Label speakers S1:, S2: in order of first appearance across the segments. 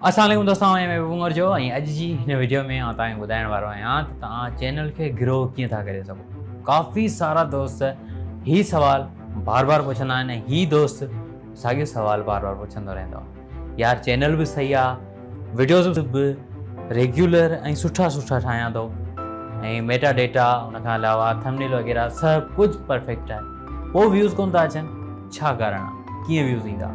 S1: اسلام عليڪم دوستان آئون آهيان محبوب عمر جو ۽ اڄ جي هن وڊيو ۾ آئون توهان کي ٻڌائڻ وارو آهيان ته توهان چينل کي گرو ڪيئن ٿا ڪري سگهو ڪافي سارا دوست هي سوال بار بار پڇندا آهن ۽ هي دوست ساڳيو سوال بار بار پڇندو رهندو آهي يار چينل به صحيح آهي وڊيوز به ريگيولر ۽ سٺا سٺا ٺاهيان ٿو ۽ ميٽا ڊيٽا ان کان علاوه ٿمنيل وغيره سڀ ڪجهه پرفيڪٽ آهي پوء ويوز ڪون ٿا اچن ڇا ڪارڻ آهي ڪيئن ويوز ايندا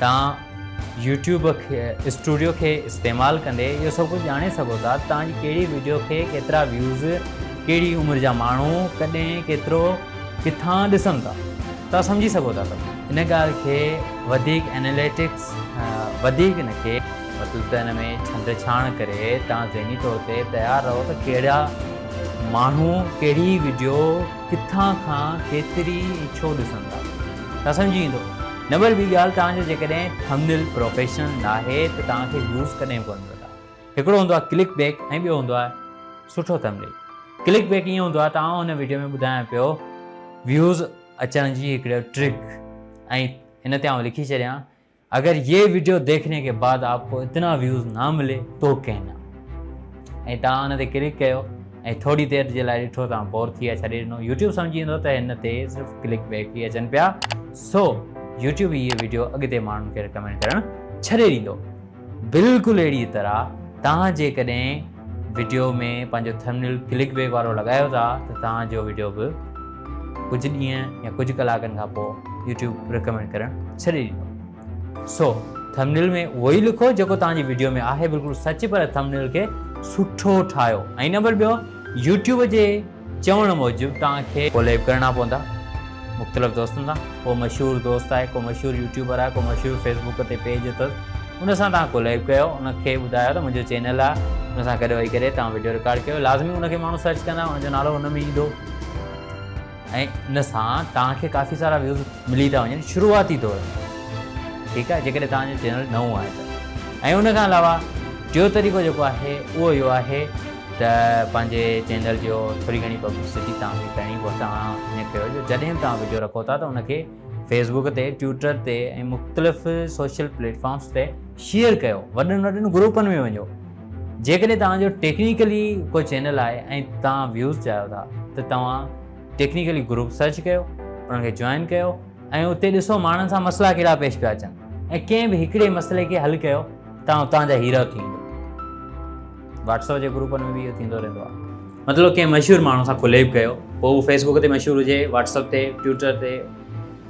S1: توهان يوٽيوب اسٽوڊيو کي استعمال ڪندي اهو سڀ ڪجهه ڄاڻي سگهو ٿا ته توهان جي ڪهڙي وڊيو کي ڪيترا ويوز، ڪهڙي عمر جا ماڻهو، ڪڏهن، ڪيترو، ڪٿان ڏسن ٿا. توهان سمجهي سگهو ٿا ته ان ڳالهه کي وڌيڪ اناليٽڪس وڌيڪ نه کي. مطلب ته ان ۾ ڇنڊ ڇاڻ ڪري توهان ذهني طور تي تيار رهو ته ڪهڙا ماڻهو ڪهڙي وڊيو ڪٿان کان ڪيتري ڇو ڏسن ٿا. توهان سمجهي ويندو. نمبر ٻي ڳالهه توهان جو جيڪڏهن ٿمنيل پروفيشنل ناهي ته توهان کي ويوز ڪڏهن ڪونه ملندا. هڪڙو هوندو آهي ڪلڪ بيڪ ۽ ٻيو هوندو آهي سٺو ٿمنيل. ڪلڪ بيڪ ائين هوندو آهي ته آئون هن وڊيو ۾ ٻڌايان پيو ويوز اچڻ جي هڪڙو ٽرڪ ۽ هن تي آئون لکي ڇڏيان اگر يي وڊيو ديکني ڪي بعد آپ ڪو اتنا ويوز نا ملي تو ڪهنا ۽ توهان هن تي ڪلڪ ڪيو ۽ ٿوري دير جي لاء ڏٺو توهان بور ٿي ويا ڇڏي ڏنو يوٽيوب سمجهي ويندو ته هن تي صرف ڪلڪ بيڪ ئي اچن پيا سو يوٽيوب هيء وڊيو اڳتي ماڻهن کي رڪمينڊ ڪرڻ ڇڏي ڏيندو بلڪل اهڙي طرح توهان جيڪڏهن وڊيو ۾ پنهنجو ٿمنيل ڪلڪ بيڪ وارو لڳايو ٿا ته توهان جو وڊيو به ڪجهه ڏينهن يا ڪجهه ڪلاڪن کان پوء يوٽيوب رڪمينڊ ڪرڻ ڇڏي ڏيندو سو ٿمنيل ۾ اهو ئي لکو جيڪو توهان جي وڊيو ۾ آهي بلڪل سچ پر ٿمنيل کي سٺو ٺاهيو ۽ نمبر ٻيو يوٽيوب جي چوڻ موجب توهان کي ڪوليب ڪرڻا پوندا مختلف دوستن سان ڪو مشهور دوست آهي ڪو مشهور يوٽيوبر آهي ڪو مشهور فيسبوڪ تي پيج اٿس ان سان توهان ڪوليب ڪيو ان کي ٻڌايو ته منهنجو چينل آهي ان سان گڏ ويهي ڪري توهان وڊيو رڪارڊ ڪيو لازمي ان کي ماڻهو سرچ ڪندا ان جو نالو ان ۾ ايندو ۽ ان سان توهان کي ڪافي سارا ويوز ملي ٿا وڃن شروعاتي دور ۾ ٺيڪ آهي جيڪڏهن توهان جو چينل نئون آهي ته ۽ ان کان علاوه ٽيو طريقو جيڪو آهي اهو اهو آهي ته پنهنجي چينل جو ٿوري گهڻي پبلسٽي توهان کي ڪرڻي پوي توهان ائين ڪيو جو جڏهن به توهان ويڊيو رکو ٿا ته ان کي فيس بڪ تي ٽوئيٽر تي ۽ مختلف سوشل پليٽ فارمس تي شيئر ڪيو وڏن وڏن گروپن ۾ وڃو جيڪڏهن توهان جو ٽيڪنيڪلي ڪو چينل آهي ۽ توهان ويوز چاهيو ٿا ته توهان ٽيڪنيڪلي گروپ سرچ ڪيو انهن کي جوائن ڪيو ۽ اتي ڏسو ماڻهن سان مسئلا ڪهڙا پيش پيا اچن ۽ ڪنهن به هڪڙي مسئلي کي حل ڪيو توهان اتان جا هيرو ٿي ويندو واٽسپ جي گروپن ۾ به اهو ٿيندو رهندو آهي مطلب ڪنهن مشهور ماڻهو سان ڪليب ڪيو پوء هو فيسبوڪ تي مشهور هجي واٽسپ تي ٽوئٽر تي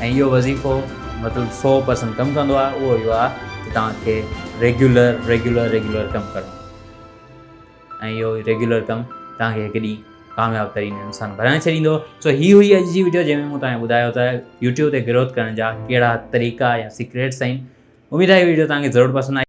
S1: ۽ اهو وظيفو مطلب سو پرسنٽ ڪم ڪندو آهي اهو اهو آهي ته توهان کي ريگيولر ريگيولر ريگيولر ڪم ڪرڻو آهي ۽ اهو ريگيولر ڪم توهان کي هڪ ڏينهن ڪامياب ترين انسان بڻائي ڇڏيندو سو هي هئي اڄ جي ويڊيو جنهن ۾ مون توهان ٻڌايو ته يوٽيوب تي گروٿ ڪرڻ جا ڪهڙا طريقا يا سيڪريٽس آهن اميد آهي ويڊيو توهان کي ضرور پسند آئي